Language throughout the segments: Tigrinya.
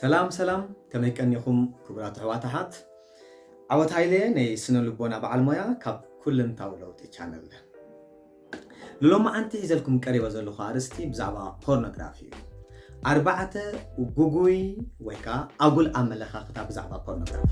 ሰላም ሰላም ከመይ ቀኒኹም ክቡራት ኣሕዋት ኣሓት ዓወት ሃይለ ነይ ስነ ልቦና በዓል ሞያ ካብ ኩልንታዊ ለውጢ ቻነል ንሎማዓንቲ ሒዘልኩም ቀሪበ ዘለኹ ኣርእስቲ ብዛዕባ ፖርኖግራፊ እዩ ኣርባዕተ ጉጉይ ወይ ከዓ ኣጉል ኣመለኻኽታ ብዛዕባ ፖርኖግራፊ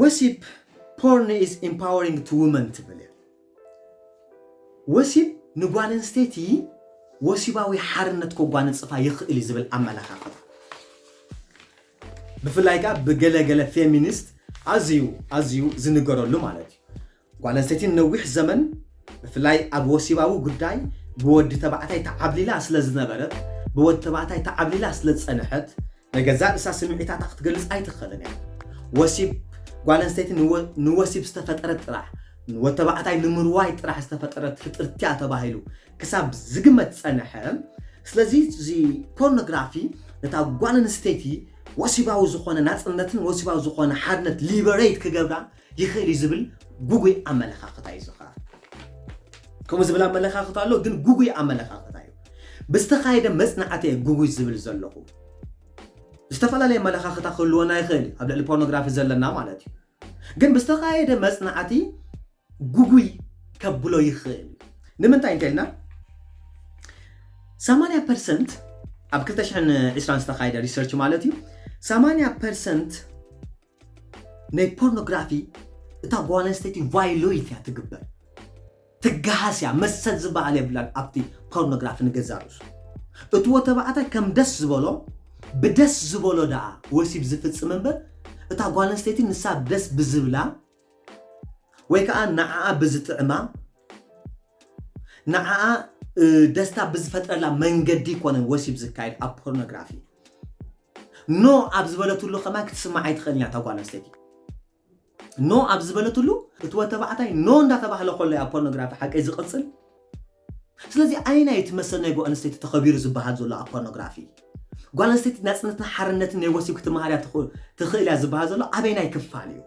ወሲብ Porn is empowering to women ትብል እያ። ወሲብ ንጓል ኣንስተይቲ ወሲባዊ ሓርነት ከጓንጽፋ ይኽእል እዩ ዝብል ኣመለኻኽታ ብፍላይ ከኣ ብገለ ገለ ፌሚኒስት ኣዝዩ ኣዝዩ ዝንገረሉ ማለት እዩ። ጓል ኣንስተይቲ ንነዊሕ ዘመን ብፍላይ ኣብ ወሲባዊ ጉዳይ ብወዲ ተባዕታይ ተዓብሊላ ስለ ዝነበረት፣ ብወዲ ተባዕታይ ተዓብሊላ ስለ ዝጸንሐት፣ ንገዛእ ርእሳ ስምዒታታ ክትገልጽ ኣይትኽእልን እያ። ወሲብ ጓል ኣንስተይቲ ንወሲብ ዝተፈጠረት ጥራሕ፣ ንወዲ ተባዕታይ ንምርዋይ ጥራሕ ዝተፈጠረት ፍጥርቲ እያ ተባሂሉ ክሳብ ዝግመት ዝጸንሐ። ስለዚ እዚ ፖርኖግራፊ ነታ ጓል ኣንስተይቲ ወሲባዊ ዝኾነ ናጽነትን ወሲባዊ ዝኾነ ሓርነት ሊበሬት ክገብራ ይኽእል እዩ ዝብል ጉጉይ ኣመለኻኽታ እዩ ዝኸ ከምኡ ዝብል ኣመለኻኽታ ኣሎ ግን ጉጉይ ኣመለኻኽታ እዩ ብዝተኻየደ መፅናዕቲ እየ ጉጉይ ዝብል ዘለኹ ዝተፈላለየ ኣመለኻኽታ ክህልወና ይኽእል እዩ ኣብ ልዕሊ ፖርኖግራፊ ዘለና ማለት እዩ ግን ብዝተኻየደ መፅናዕቲ ጉጉይ ከብሎ ይኽእል እዩ ንምንታይ እንተልና 80 ፐርሰንት ኣብ 220 ዝተኻየደ ሪሰርች ማለት እዩ 80 ፐርሰንት ናይ ፖርኖግራፊ እታ ጓል ኣንስተይቲ ቫይሎይት እያ ትግበር ትገሃስ እያ መሰል ዝበሃል የብላን ኣብቲ ፖርኖግራፊ ንገዛ ርእሱ እቲ ወተባዕታይ ከም ደስ ዝበሎ ብደስ ዝበሎ ደኣ ወሲብ ዝፍፅም እምበር እታ ጓል ኣንስተይቲ ንሳ ደስ ብዝብላ ወይ ከኣ ንዓኣ ብዝጥዕማ፣ ንዓኣ ደስታ ብዝፈጥረላ መንገዲ ይኮነን ወሲብ ዝካየድ ኣብ ፖርኖግራፊ። ኖ ኣብ ዝበለትሉ ከማን ክትስማዕ ኣይትኽእልን እያ እታ ጓል ኣንስተይቲ። ኖ ኣብ ዝበለትሉ እቲ ወድ ተባዕታይ ኖ እንዳተባህለ ከሎ እያ ፖርኖግራፊ ሓቀይ ዝቕጽል ስለዚ ኣየናይ እቲ መሰል ናይ ጓልኣንስተይቲ ተኸቢሩ ዝበሃል ዘሎ ኣብ ፖርኖግራፊ? ጓልኣንስተይቲ ናጽነትን ሓርነትን ናይ ወሲብ ክትመሃር እያ ትኽእል እያ ዝበሃል ዘሎ ኣበየናይ ክፋል እዩ?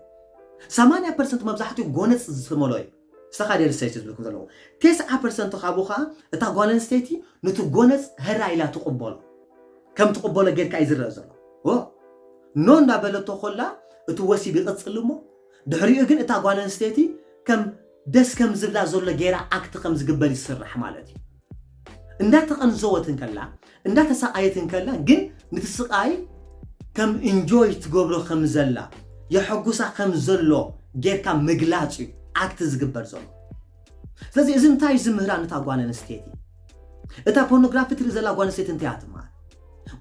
ሰማንያ ፐርሰንት መብዛሕትኡ ጎነጽ ዝስመሎ እዩ። ሰኻ ደርሰይቲ ዝብልኩም ዘለኹ ቴስዓ ፐርሰንት ካብኡ ከኣ እታ ጓልኣንስተይቲ ኑቲ ጎነጽ ህራይ ኢላ ትቕበሎ ከም ትቕበሎ ጌርካ እዩ ዝረኣ ዘሎ። ዎ ኖ እንዳበለቶ ኮላ እቲ ወሲብ ይቕጽል እሞ ድሕሪኡ ግን እታ ጓልኣንስተይቲ ከም ደስ ከም ዝብላ ዘሎ ጌራ ኣክት ከም ዝግበር ይስራሕ ማለት እዩ እንዳ ተቀንዘወት እንከላ እንዳ ተሳቃየት እንከላ ግን ንቲ ስቃይ ከም እንጆይ ትገብሮ ከም ዘላ የሐጉሳ ከም ዘሎ ጌርካ ምግላጽ እዩ ኣክት ዝግበር ዘሎ ስለዚ እዚ እንታይ እዩ ዝምህራ ነታ ጓል ኣንስተይቲ እታ ፖርኖግራፊ ትርኢ ዘላ ጓል ኣንስተይቲ እንታይ እያ ትምሃር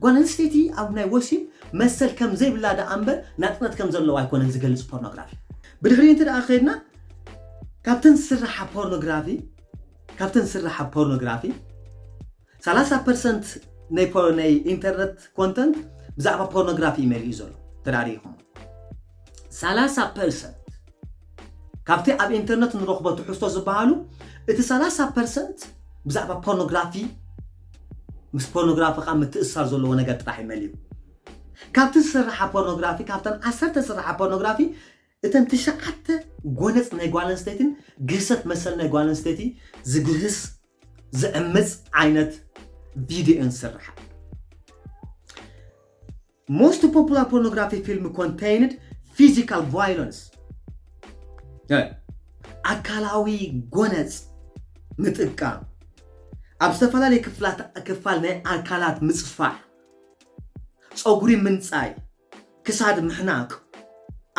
ጓል ኣንስተይቲ ኣብ ናይ ወሲብ መሰል ከም ዘይብላ ደኣ እምበር ናጽነት ከም ዘለዋ ኣይኮነን ዝገልጽ ፖርኖግራፊ ብድሕሪኡ እንተደኣ ከይድና ካብተን ዝስራሓ ፖርኖግራፊ ካብተን ዝስራሓ ፖርኖግራፊ 30 ፐርሰንት ናይ ፖ- ናይ ኢንተርነት ኮንተንት ብዛዕባ ፖርኖግራፊ እዩ መሊኡ ዘሎ ተዳሪኹም 30 ፐርሰንት ካብቲ ኣብ ኢንተርነት ንረኽቦ ትሕዝቶ ዝበሃሉ እቲ 30 ፐርሰንት ብዛዕባ ፖርኖግራፊ ምስ ፖርኖግራፊ ከዓ ምትእስሳር ዘለዎ ነገር ጥራሕ እዩ መሊኡ ካብቲ ዝስርሓ ፖርኖግራፊ ካብተን ዓሰርተ ዝስርሓ ፖርኖግራፊ እተን ትሽዓተ ጎነጽ ናይ ጓል ኣንስተይቲን ግህሰት መሰል ናይ ጓል ኣንስተይቲ ዝግህስ ዝዕምጽ ዓይነት ቪድዮን ዝስርሓ most popular pornography film contained physical violence ኣካላዊ ጎነጽ ምጥቃም ኣብ ዝተፈላለየ ክፋል ናይ ኣካላት ምጽፋሕ ፀጉሪ ምንፃይ፣ ክሳድ ምሕናቅ፣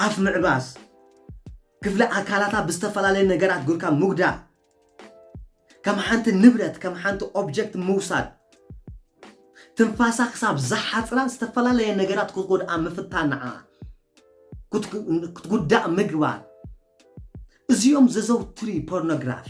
ኣፍ ምዕባስ፣ ክፍሊ ኣካላታ ብዝተፈላለዩ ነገራት ጉርካ ምጉዳል፣ ከም ሓንቲ ንብረት ከም ሓንቲ ኦብጀክት ምውሳድ፣ ትንፋሳ ክሳብ ዝሓፅራ ዝተፈላለየ ነገራት ክትጎድኣ ምፍታን ንዓ ክትጉዳእ ምግባር እዚኦም ዘዘውትሪ ፖርኖግራፊ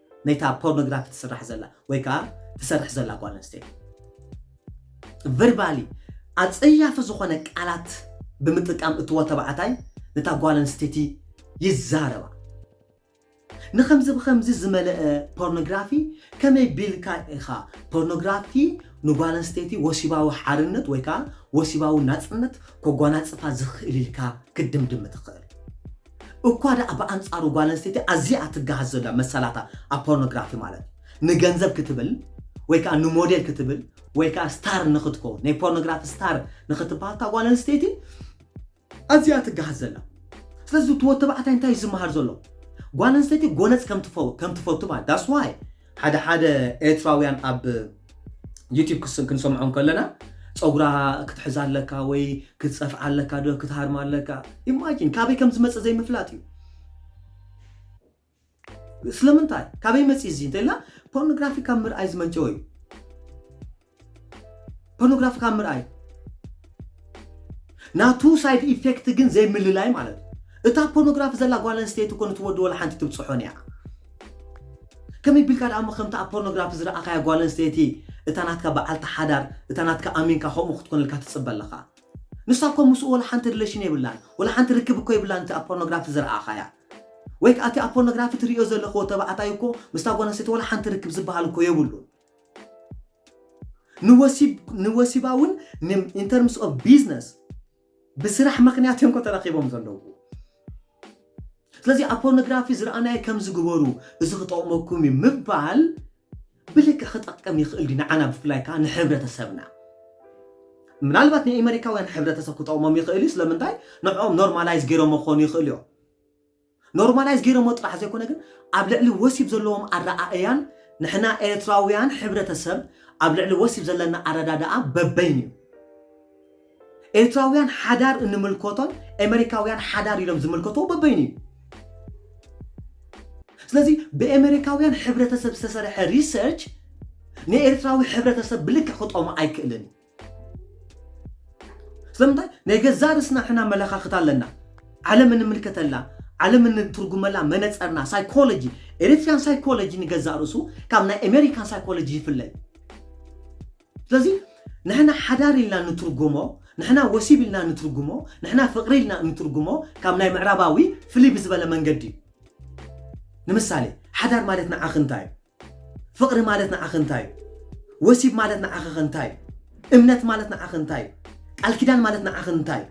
ነታ ፖርኖግራፊ ትስራሕ ዘላ ወይ ከዓ ትሰርሕ ዘላ ጓል ኣንስተይቲ ቨርባሊ ኣፀያፊ ዝኾነ ቃላት ብምጥቃም እቲ ወተባዕታይ ነታ ጓል ኣንስተይቲ ይዛረባ ንከምዚ ብከምዚ ዝመለአ ፖርኖግራፊ ከመይ ቢልካ ኢኻ ፖርኖግራፊ ንጓል ኣንስተይቲ ወሲባዊ ሓርነት ወይ ከዓ ወሲባዊ ናፅነት ኮጓናፅፋ ዝኽእል ኢልካ ክትድምድም ትኽእል እኳ ደኣ ብኣንጻሩ ጓል ኣንስተይቲ ኣዝያ ትገሃስ ዘላ መሰላታ ኣብ ፖርኖግራፊ ማለት እዩ ንገንዘብ ክትብል ወይ ከዓ ንሞዴል ክትብል ወይ ከዓ ስታር ንክትከውን ናይ ፖርኖግራፊ ስታር ንክትበሃል እታ ጓል ኣንስተይቲ ኣዝያ ትገሃስ ዘላ ስለዚ እቲ ወተባዕታይ እንታይ ዝመሃር ዘሎ ጓል ኣንስተይቲ ጎነፅ ከም ትፈቱ ማለት ዳስዋይ ሓደ ሓደ ኤርትራውያን ኣብ ዩቲብ ክንሰምዖም ከለና ፀጉራ ክትሕዛ ኣለካ ወይ ክትፀፍዓ ኣለካ ዶ ክትሃርማ ኣለካ ኢማጂን ካበይ ከም ዝመፀ ዘይምፍላጥ እዩ ስለምንታይ ካበይ መፂ እዚ እንተኢልና ፖርኖግራፊ ካብ ምርኣይ ዝመንጨወ እዩ ፖርኖግራፊ ካብ ምርኣይ ናቱ ሳይድ ኢፌክት ግን ዘይምልላይ ማለት እዩ እታ ፖርኖግራፊ ዘላ ጓል ኣንስተይቲ ኮነ ትወዲ ወላ ሓንቲ ትብፅሖን እያ ከመይ ቢልካ ደኣ እሞ ከምቲ ኣብ ፖርኖግራፊ ዝረኣኻያ ጓል ኣንስተይቲ እታ ናትካ በዓልቲ ሓዳር እታ ናትካ ኣሚንካ ከምኡ ክትኮነልካ ትፅበ ኣለኻ ንሳ እኮ ምስኡ ወላ ሓንቲ ሪሌሽን የብላን ወላ ሓንቲ ርክብ እኮ የብላን እቲ ኣብ ፖርኖግራፊ ዝረኣኻያ ወይ ከዓ እቲ ኣብ ፖርኖግራፊ ትሪኦ ዘለኽዎ ተባዕታይ እኮ ምስታ ጓል ኣንስተይቲ ወላ ሓንቲ ርክብ ዝበሃል እኮ የብሉን ንወሲባውን ኢንተርምስ ኦፍ ቢዝነስ ብስራሕ ምክንያት እዮም ተረኪቦም ዘለዉ ስለዚ ኣብ ፖርኖግራፊ ዝረኣናዮ ከምዚ ግበሩ እዚ ክጠቕመኩም እዩ ምባል ብልክዕ ክጠቅም ይኽእል ድዩ ንዓና ብፍላይ ከዓ ንሕብረተሰብና ምናልባት ንኤመሪካውያን ሕብረተሰብ ክጠቕሞም ይኽእል እዩ ስለምንታይ ንዕኦም ኖርማላይዝ ገይሮም ክኾኑ ይኽእሉ እዮም ኖርማላይዝ ገይረሞ ጥራሕ ዘይኮነ ግን ኣብ ልዕሊ ወሲብ ዘለዎም ኣረኣእያን ንሕና ኤርትራውያን ሕብረተሰብ ኣብ ልዕሊ ወሲብ ዘለና ኣረዳድኣ በበይኑ እዩ። ኤርትራውያን ሓዳር እንምልከቶን ኤመሪካውያን ሓዳር ኢሎም ዝምልከትዎ በበይኑ እዩ። ስለዚ ብኤመሪካውያን ሕብረተሰብ ዝተሰርሐ ሪሰርች ንኤርትራዊ ሕብረተሰብ ብልክዕ ክጠሙ ኣይክእልን እዩ። ስለምንታይ ናይ ገዛ ርስና ሕና መለኻኽት ኣለና ዓለም እንምልከተላ ዓለም እንትርጉመላ መነፀርና ሳይኮሎጂ ኤሪትሪያን ሳይኮሎጂ ንገዛእ ርእሱ ካብ ናይ ኣሜሪካን ሳይኮሎጂ ይፍለ እዩ ስለዚ ንሕና ሓዳር ኢልና ንትርጉሞ ንሕና ወሲብ ኢልና ንትርጉሞ ንሕና ፍቕሪ ኢልና እንትርጉሞ ካብ ናይ ምዕራባዊ ፍልይ ብዝበለ መንገዲ እዩ ንምሳሌ ሓዳር ማለት ንዓኽ እንታይ እዩ ፍቕሪ ማለት ንዓኺ እንታይ እዩ? ወሲብ ማለት ንዓኺ ከ እንታይ እዩ? እምነት ማለት ንዓኺ እንታይ እዩ? ቃል ኪዳን ማለት ንዓኺ እንታይ እዩ?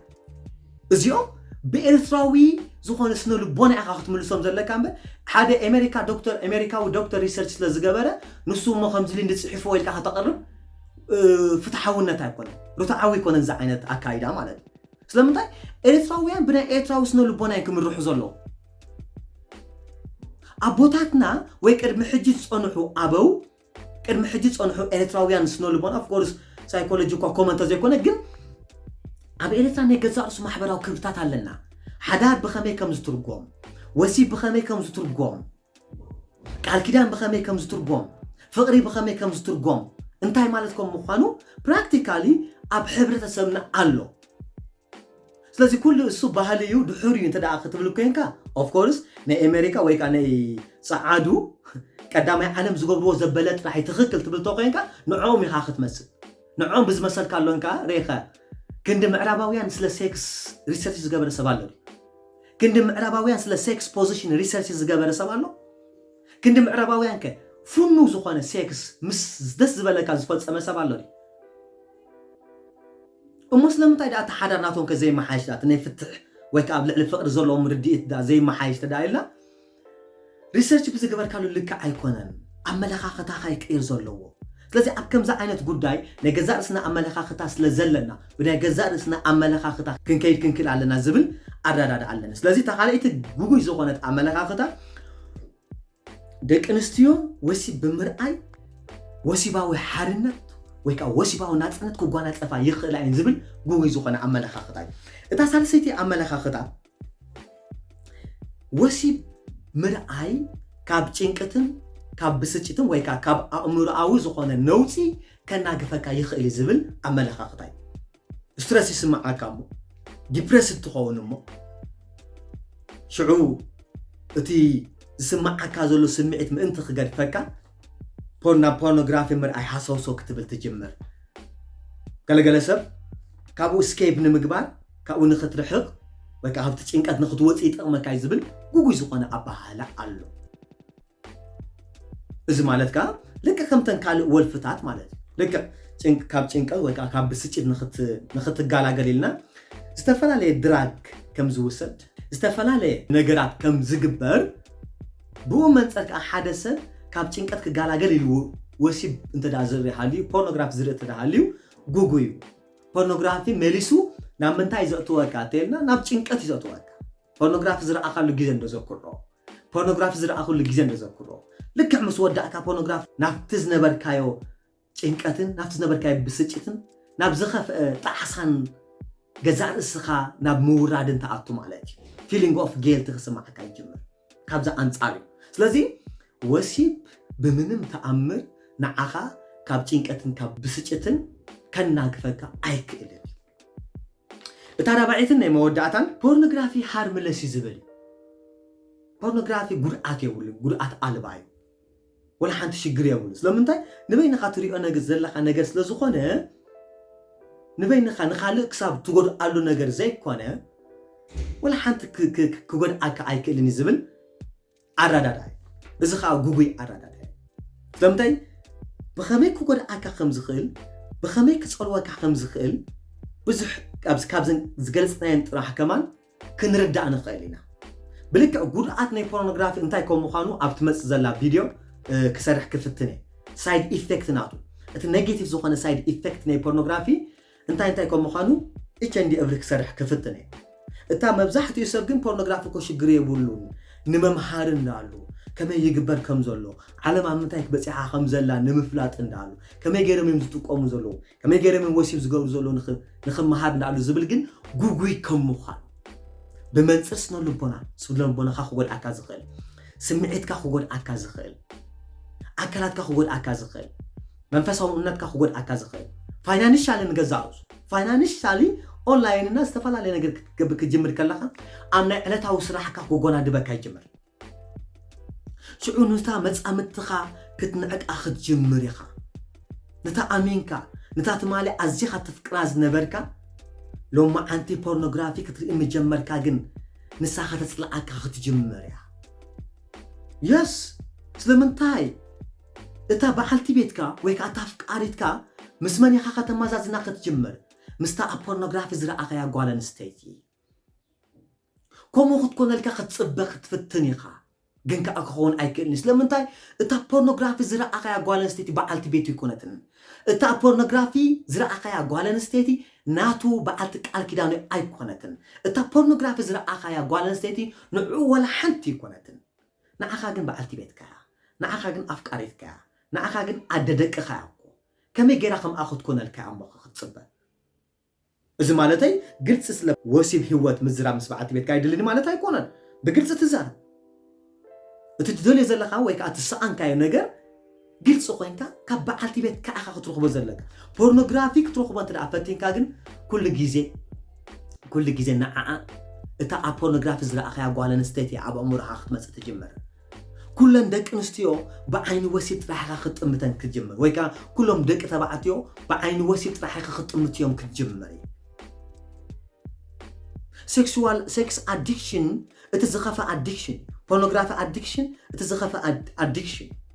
እዚኦም ብኤርትራዊ ዝኾነ ስነ ልቦና ኢኻ ክትምልሶም ዘለካ እምበር ሓደ ኣሜሪካ ዶክተር ኣሜሪካዊ ዶክተር ሪሰርች ስለ ዝገበረ ንሱ እሞ ከምዚ ልንዲ ፅሒፍዎ ኢልካ ከተቕርብ ፍትሓውነት ኣይኮነን ርትዓዊ ኣይኮነን እዚ ዓይነት ኣካይዳ ማለት እዩ ስለምንታይ ኤርትራውያን ብናይ ኤርትራዊ ስነ ልቦና እዮም ክምርሑ ዘለዉ ኣቦታትና ወይ ቅድሚ ሕጂ ዝጸንሑ ኣበው ቅድሚ ሕጂ ዝጸንሑ ኤርትራውያን ስነ ልቦና ኦፍኮርስ ሳይኮሎጂ እኳ ኮመ እንተዘይኮነ ግን ኣብ ኤርትራ ናይ ገዛእ ርእሱ ማሕበራዊ ክብርታት ኣለና ሓዳር ብኸመይ ከም ዝትርጎም ወሲብ ብኸመይ ከም ዝትርጎም ቃል ኪዳን ብኸመይ ከም ዝትርጎም ፍቕሪ ብኸመይ ከም ዝትርጎም እንታይ ማለት ከም ምዃኑ ፕራክቲካሊ ኣብ ሕብረተሰብና ኣሎ ስለዚ ኩሉ እሱ ባህሊ እዩ ድሑር እዩ እንተ ክትብል ኮይንካ ኦፍኮርስ ናይ ኣሜሪካ ወይ ከዓ ናይ ፀዓዱ ቀዳማይ ዓለም ዝገብርዎ ዘበለ ጥራሕ ትኽክል ትብል ተኮይንካ ንዕኦም ኢኻ ክትመፅእ ንዕኦም ብዝመሰልካ ኣሎን ከዓ ሬኸ ክንዲ ምዕራባውያን ስለ ሴክስ ሪሰርች ዝገበረ ሰብ ኣሎ ክንዲ ምዕራባውያን ስለ ሴክስ ፖዚሽን ሪሰርች ዝገበረ ሰብ ኣሎ ክንዲ ምዕራባውያን ከ ፍኑ ዝኾነ ሴክስ ምስ ደስ ዝበለካ ዝፈፀመ ሰብ ኣሎ እሞ ስለምንታይ ደኣ እቲ ሓዳር ናቶም ከ ዘይመሓየሽ ደኣ እቲ ናይ ፍትሕ ወይ ከኣ ኣብ ልዕሊ ፍቕሪ ዘለዎም ርድኢት ደኣ ዘይመሓየሽ ተደኣ ኢልና ሪሰርች ብዝገበርካሉ ልክዕ ኣይኮነን ኣመለኻኽታኻ እዩ ክቕይር ዘለዎ ስለዚ ኣብ ከምዚ ዓይነት ጉዳይ ናይ ገዛእ ርእስና ኣመለኻኽታ ስለ ዘለና ብናይ ገዛእ ርእስና ኣመለኻኽታ ክንከይድ ክንክእል ኣለና ዝብል ኣረዳድኣ ኣለኒ ስለዚ እታ ካልኣይቲ ግጉይ ዝኾነት ኣመለኻኽታ ደቂ ኣንስትዮ ወሲብ ብምርኣይ ወሲባዊ ሓርነት ወይ ከዓ ወሲባዊ ናፅነት ክጓናፀፋ ይኽእላ እየን ዝብል ጉጉይ ዝኾነ ኣመለኻኽታ እዩ እታ ሳልሰይቲ ኣመለኻኽታ ወሲብ ምርኣይ ካብ ጭንቅትን ካብ ብስጭትን ወይ ከዓ ካብ ኣእምሮኣዊ ዝኾነ ነውፂ ከናግፈካ ይኽእል ዝብል ኣመለኻኽታ እዩ ስትረስ ይስምዓካ እሞ ዲፕረስድ ትኸውን እሞ ሽዑ እቲ ዝስምዓካ ዘሎ ስምዒት ምእንቲ ክገድፈካ ፖር ናብ ፖርኖግራፊ ምርኣይ ሃሰውሶ ክትብል ትጅምር ገለገለ ሰብ ካብኡ ስኬፕ ንምግባር ካብኡ ንክትርሕቕ ወይ ከዓ ካብቲ ጭንቀት ንክትወፅእ ይጠቕመካ እዩ ዝብል ጉጉይ ዝኾነ ኣበሃህላ ኣሎ እዚ ማለት ከኣ ልክዕ ከምተን ካልእ ወልፍታት ማለት እዩ። ልክዕ ጭንቅ ካብ ጭንቀት ወይ ከኣ ካብ ብስጭት ንኽትጋላገል ኢልና ዝተፈላለየ ድራግ ከም ዝውሰድ ዝተፈላለየ ነገራት ከም ዝግበር ብኡ መንጸር ከኣ ሓደ ሰብ ካብ ጭንቀት ክጋላገል ኢሉ ወሲብ እንተ ደኣ ዝርኢ ሃልዩ ፖርኖግራፊ ዝርኢ እንተ ሃልዩ ጉጉይ እዩ። ፖርኖግራፊ መሊሱ ናብ ምንታይ እዩ ዘእትወካ እንተ ኢልና ናብ ጭንቀት እዩ ዘእትወካ። ፖርኖግራፊ ዝረኣኻሉ ግዜ እንዶ ዘኩሮ ፖርኖግራፊ ዝረኣኹሉ ግዜ እንተዘክሮ፣ ልክዕ ምስ ወዳእካ ፖርኖግራፊ ናብቲ ዝነበርካዮ ጭንቀትን ናብቲ ዝነበርካዮ ብስጭትን ናብ ዝኸፍአ ጣዕሳን ገዛእ ርእስኻ ናብ ምውራድን ተኣቱ ማለት እዩ ፊሊንግ ኦፍ ጌልቲ ክስማዓካ ይጅምር ካብዚ ኣንጻር እዩ ስለዚ ወሲብ ብምንም ተኣምር ንዓኻ ካብ ጭንቀትን ካብ ብስጭትን ከናግፈካ ኣይክእልን እታ ራብዐይትን ናይ መወዳእታን ፖርንግራፊ ሃርምለስ እዩ ዝብል እዩ ፖርንግራፊ ጉድኣት የብሉን ጉድኣት ኣልባ እዩ ወላ ሓንቲ ሽግር የብሉ ስለምንታይ ንበይንኻ ትሪኦ ነገ ዘለኻ ነገር ስለ ዝኾነ ንበይንኻ ንኻልእ ክሳብ ትጎድኣሉ ነገር ዘይኮነ ወላ ሓንቲ ክጎድኣካ ኣይክእልን እዩ ዝብል ኣረዳዳኢ እዚ ከኣ ጉጉይ ኣረዳዳኢ ዘምተይ ብኸመይ ክጎድኣካ ከም ዝኽእል ብኸመይ ክጸልወካ ከም ዝኽእል ብዙሕ ካብዘን ዝገልጽናየን ጥራሕ ከማን ክንርዳእ ንኽእል ኢና ብልክዕ ጉድኣት ናይ ፖርኖግራፊ እንታይ ከም ምዃኑ ኣብ ትመጽእ ዘላ ቪድዮ ክሰርሕ ክፍትን እየ ሳይድ ኢፌክት ናቱ እቲ ኔጌቲቭ ዝኾነ ሳይድ ኢፌክት ናይ ፖርኖግራፊ እንታይ እንታይ ከም ምዃኑ HND እብሪ ክሰርሕ ክፍትን እየ እታ መብዛሕትኡ ሰብ ግን ፖርኖግራፊ እኮ ሽግር የብሉን ንመምሃርን ዳኣሉ ከመይ ይግበር ከም ዘሎ ዓለም ኣብ ምንታይ ክበጺሓ ከም ዘላ ንምፍላጥን ዳኣሉ ከመይ ገይሮም እዮም ዝጥቀሙ ዘለዉ ከመይ ገይሮም እዮም ወሲብ ዝገብሩ ዘለዉ ንክመሃር ዳኣሉ ዝብል ግን ጉጉይ ከም ምዃን ብመንጽር ስነ ልቦና ስነ ልቦናኻ ክጎድኣካ ዝኽእል ስምዒትካ ክጎድኣካ ዝኽእል ኣካላትካ ክጎድኣካ ዝኽእል መንፈሳዊ እምነትካ ክጎድኣካ ዝኽእል ፋይናንሻሊ ንገዛእ ርእሱ ፋይናንሻሊ ኦንላይን እና ዝተፈላለየ ነገር ክትገብር ክትጅምር ከለኻ ኣብ ናይ ዕለታዊ ስራሕካ ክጎናድበካ ይጅምር ሽዑ ንታ መጻምድትኻ ክትንዕቃ ክትጅምር ኢኻ ነታ ኣሚንካ ነታ ትማሊ ኣዚኻ ትፍቅራ ዝነበርካ ሎማዓንቲ ፖርኖግራፊ ክትርኢ ምጀመርካ ግን ንሳ ከተፅልኣካ ክትጅምር እያ የስ ስለምንታይ እታ በዓልቲ ቤትካ ወይ ከኣ እታ ኣፍቃሪትካ ምስ መን ኢኻ ከተመዛዝና ክትጅምር? ምስታ ኣብ ፖርኖግራፊ ዝረኣኻያ ጓል ኣንስተይቲ። ከምኡ ክትኮነልካ ክትጽበ ክትፍትን ኢኻ፣ ግን ከኣ ክኸውን ኣይክእልን እዩ። ስለምንታይ? እታ ኣብ ፖርኖግራፊ ዝረኣኻያ ጓል ኣንስተይቲ በዓልቲ ቤቱ ኣይኮነትን። እታ ኣብ ፖርኖግራፊ ዝረኣኻያ ጓል ኣንስተይቲ ናቱ በዓልቲ ቃል ኪዳኑ ኣይኮነትን። እታ ኣብ ፖርኖግራፊ ዝረኣኻያ ጓል ኣንስተይቲ ንዕኡ ዋላ ሓንቲ ኣይኮነትን። ንዓኻ ግን በዓልቲ ቤትካ እያ ንዓኻ ግን ኣፍቃሪትካ እያ ንዓኻ ግን ኣደ ደቅኻ እያ እኮ ከመይ ጌራ ከምኣ ክትኮነልካ እያ እሞ ክትጽበ እዚ ማለተይ ግልጺ ስለ ወሲብ ሂወት ምዝራብ ምስ በዓልቲ ቤትካ ኣይድልን ማለት ኣይኮነን ብግልጺ ትዛረብ እቲ ትደልዮ ዘለኻ ወይ ከኣ ትሰኣንካዮ ነገር ግልፂ ኮይንካ ካብ በዓልቲ ቤትካ ኢኻ ክትረኽቦ ዘለካ። ፖርኖግራፊ ክትረኽቦ እንተደኣ ፈቲንካ ግን ኩሉ ግዜ ኩሉ ግዜ ንዓኣ እታ ኣብ ፖርኖግራፊ ዝረኣኻያ ጓል ኣንስተይቲ እያ ኣብ ኣእምሮኻ ክትመፅእ ትጅምር። ኩለን ደቂ ኣንስትዮ ብዓይኒ ወሲብ ጥራሕ ኢኻ ክትጥምተን ክትጅምር ወይ ከዓ ኩሎም ደቂ ተባዕትዮ ብዓይኒ ወሲብ ጥራሕ ኢኻ ክትጥምትዮም ክትጅምር እዩ። ሴክሱዋል ሴክስ ኣዲክሽን እቲ ዝኸፈ ኣዲክሽን እዩ። ፖርኖግራፊ ኣዲክሽን እቲ ዝኸፈ ኣዲክሽን እዩ።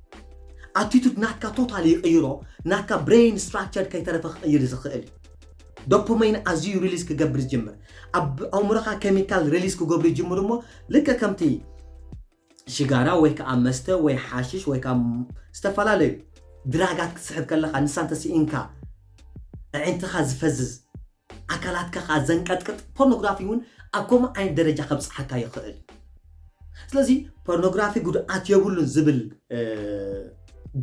ኣቲቱድ ናትካ ቶታሊ ይቕይሮ ናትካ ብሬን ስትራክቸር ከይተረፈ ክቕይር ዝኽእል እዩ ዶፖመይን ኣዝዩ ሪሊዝ ክገብር ዝጅምር ኣብ ኣእምሮኻ ኬሚካል ሪሊዝ ክገብሩ ይጅምሩ እሞ ልከ ከምቲ ሽጋራ ወይ ከዓ መስተ ወይ ሓሽሽ ወይ ከዓ ዝተፈላለዩ ድራጋት ክትስሕብ ከለኻ ንሳን ተስኢንካ ኣዒንትኻ ዝፈዝዝ ኣካላትካ ከኣ ዘንቀጥቅጥ ፖርኖግራፊ እውን ኣብ ከምኡ ዓይነት ደረጃ ከብጽሓካ ይኽእል እዩ ስለዚ ፖርኖግራፊ ጉድኣት የብሉን ዝብል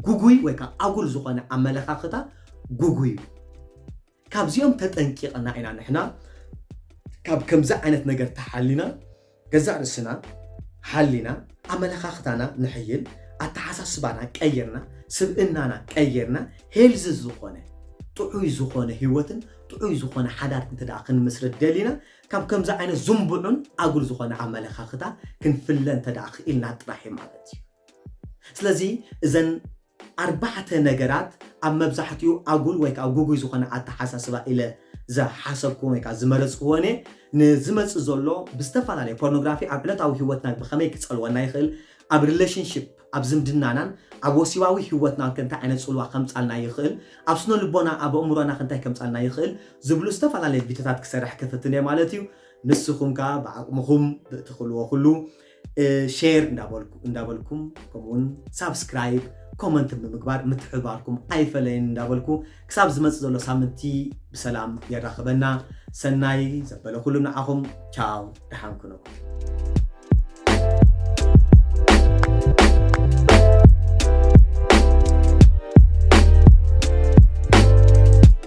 ጉጉይ ወይ ከዓ ኣጉል ዝኾነ ኣመለኻኽታ ጉጉይ እዩ ካብዚኦም ተጠንቂቕና ኢና ንሕና ካብ ከምዚ ዓይነት ነገር ተሓሊና ገዛእ ርእስና ሓሊና ኣመለኻኽታና ንሕይል ኣተሓሳስባና ቀይርና ስብእናና ቀይርና ሄልዚ ዝኾነ ጥዑይ ዝኾነ ህይወትን ጥዑይ ዝኾነ ሓዳር እንተ ደኣ ክንምስርት ደሊና ካብ ከምዚ ዓይነት ዝንቡዑን ኣጉል ዝኾነ ኣመለኻኽታ ክንፍለ እንተ ደኣ ክኢልና ጥራሕ እዩ ማለት እዩ ስለዚ እዘን ኣርባዕተ ነገራት ኣብ መብዛሕትኡ ኣጉል ወይ ከኣ ጉጉይ ዝኾነ ኣተሓሳስባ ኢለ ዝሓሰብኩዎን ወይ ከኣ ዝመረጽኩዎን እየ። ንዝመጽእ ዘሎ ብዝተፈላለየ ፖርኖግራፊ ኣብ ዕለታዊ ህይወትና ብኸመይ ክጸልወና ይኽእል? ኣብ ሪለሽንሺፕ ኣብ ዝምድናናን ኣብ ወሲባዊ ህይወትናንከ እንታይ ዓይነት ጽልዋ ከምጻልና ይኽእል? ኣብ ስነልቦና ኣብ ኣእምሮናኸ እንታይ ከምጻልና ይኽእል? ዝብሉ ዝተፈላለየ ቪድዮታት ክሰርሕ ክፍትን እየ ማለት እዩ። ንስኹም ከኣ ብዓቕምኹም ብእትኽእልዎ ኩሉ ሼር እንዳበልኩም ከምኡውን ሳብስክራይብ ኮመንትን ብምግባር ምትሕብባርኩም ኣይፈለየን እንዳበልኩ ክሳብ ዝመፅእ ዘሎ ሳምንቲ ብሰላም የራኽበና ሰናይ ዘበለ ኩሉ ንዓኹም ቻው ደሓን ኩኑ